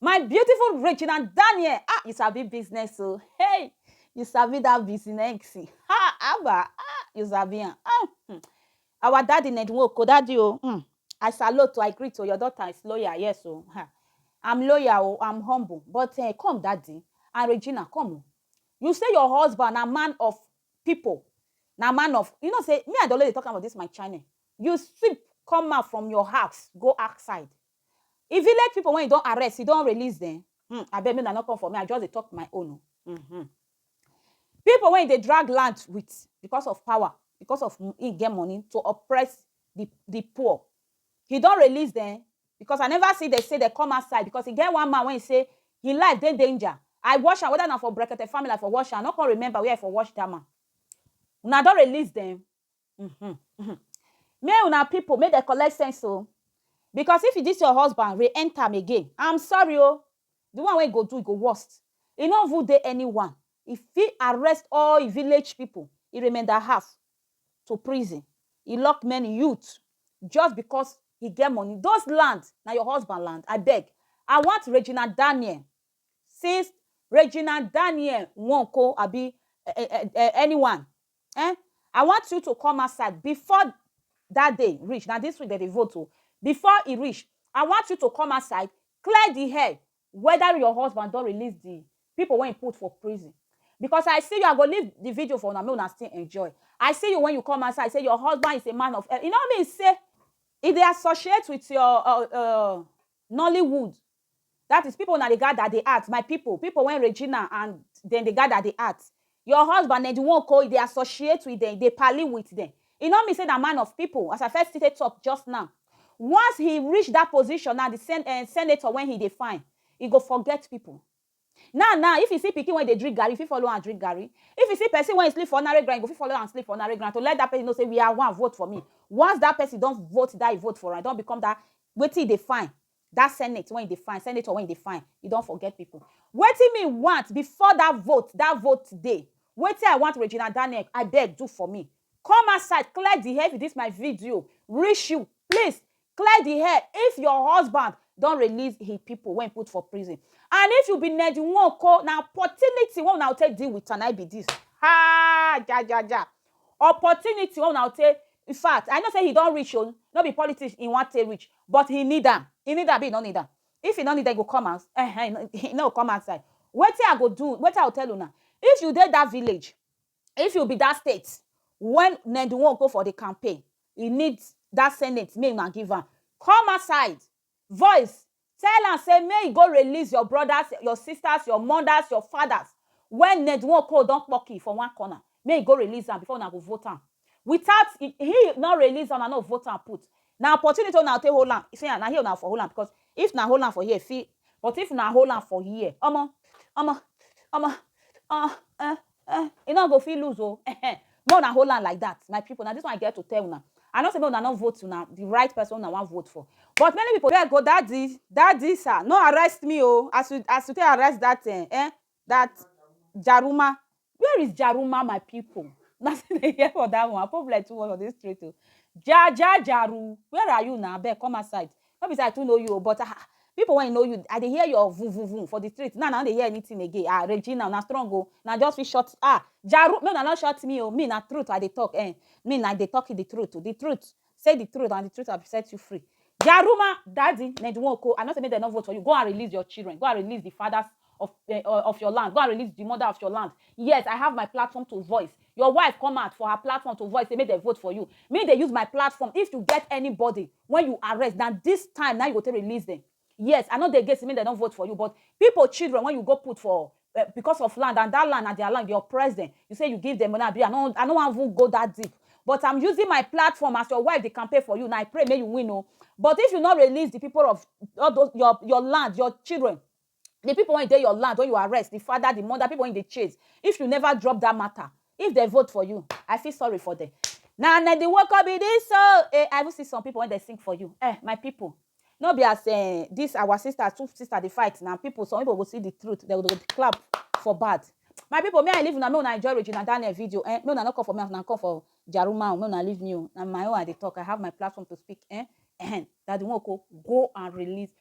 My beautiful Regina Daniel, ah, you sabi business o. Oh. Hey, you sabi that business. Ha, Abba, ah, you sabi am. Ah, hmm. Our daddy Nedwoko, daddy o. Oh, hmm. I salute, I greet to oh, your daughter is lawyer, yes o. Oh. I'm lawyer o, I'm humble. But uh, come daddy and Regina, come o. You say your husband a man of people. Na man of, you know say, me and Dolly dey talk about this my channel. You sweep, come out from your house, go outside. e village people when e don arrest e don release them hmm abeg make una no come for me i just dey talk my own o mm -hmm. people when e dey drag land with because of power because of e get money to oppress the the poor he don release them because i never see they say they come outside because e get one man when he say him life dey danger i wash am whether na for brekete family i for wash am i no come remember where i for wash that man una don release them Mhm, mhm. May una people make dem collect sense o. Because if this your husband re enter am again, I'm sorry o. The one wey e go do e go worst. E no even dey anyone. E fit arrest all e village people, e remainder half to prison. E lock many youth just because e get money. Those land na your husband land? Abeg, I want Regina Daniel. Since Regina Daniel Nwoko abi um um um anyone Ehn, I want you to come outside before that day reach, na this week dem dey vote o, before e reach, I want you to come outside clear the air whether your husband don release the people wey he put for prison because I see you, I go leave the video for una make una still enjoy, I see you when you come outside say your husband is a man of e no mean say e dey associate with your um Nollywood That is people una dey gather dey act my people people when Regina and dem dey gather dey act your husband dem the one ko e dey associate with dem e dey pally with dem e no mean say na man of people as I first take talk just now once he reach that position now the sen eh senator when he dey find he go forget people Now now, if you see pikin wey dey drink garri, you fit follow am drink garri. If you see pesin wey e sleep for ordinary ground, you go fit follow am sleep for ordinary ground to let dat pesin know sey we are one, vote for me. Once dat pesin don vote dat e vote for am, e don become dat wetin e dey find, dat senate wey e dey find, senator wey e dey find, e don forget pipu. Wetin me want before dat vote, dat vote day, wetin I want Regina Daniel, abeg do for me. Come outside, clear di air, if dis my video reach you, please Clear di air if your husband don release he pipo wey he put for prison and if you be Ned Nwoko na opportunity wey una go take deal with am na im be dis haa jajaja opportunity wey una go take infact I know say he don reach oo no be politics he wan take reach but he need am he need am abi he no need am if he no need am he go come out ehen he no go come outside wetin I go do wetin I go tell una if you dey dat village If you be that state when Ned Nwoko for the campaign, he need that senate make una give am. Come outside, voice, tell am say make he go release your brothers, your sisters, your mothers, your fathers when Ned Nwoko don kpoki for one corner. Make he go release am before una go vote am. Without he no release am, una no vote am put. Na opportunity wey una take hold am, see am, na here una for hold am because if una hold am for here, e fit but if una hold am for here, omo, omo, omo, um, eh, eh, e no go fit lose o eh, more na hold am like that my people na this one i get to tell una i know say make una no vote una the right person una wan vote for but many people there go daddy daddy sir no arrest me o as you as you take arrest that eh, eh that jaruma where is jaruma my people na still dey hear for that one problem too much for this street o ja ja jaru where are you na abeg come outside No be say I too know you o but ah people when know you I dey hear your vun vun vun for the street now I no dey hear anything again ah Regina una strong o una just fit shut ah Jaru make una no shut me o me na truth I dey talk eh me na dey talk the truth the truth say the truth and the truth have set you free Jaruma daddy Ned Nwoko I no say make dem no vote for you go and release your children go and release the fathers of eh, of your land go and release the mother of your land yes I have my platform to voice your wife come out for her platform to voice say make dem vote for you me dey use my platform if you get anybody when you arrest na this time na you go take release them yes i no dey against make dem don vote for you but people children when you go put for uh, because of land and that land na their land you oppress them you say you give them money abi i no i no wan even go that deep but i'm using my platform as your wife dey campaign for you na i pray make you win o but if you no release the people of all those your your land your children the people when dey your land when you arrest the father the mother people when they chase if you never drop that matter if they vote for you i feel sorry for them Now, na the work of be this so eh, i even see some people when they sing for you eh my people no be as eh, this our sister two sister they fight now people some people go see the truth they go dey clap for bad my people may i leave una make una enjoy regina daniel video eh make una no come for me as una come for jaruma o make una leave me o na my own i dey talk i have my platform to speak eh eh daddy nwoko go and release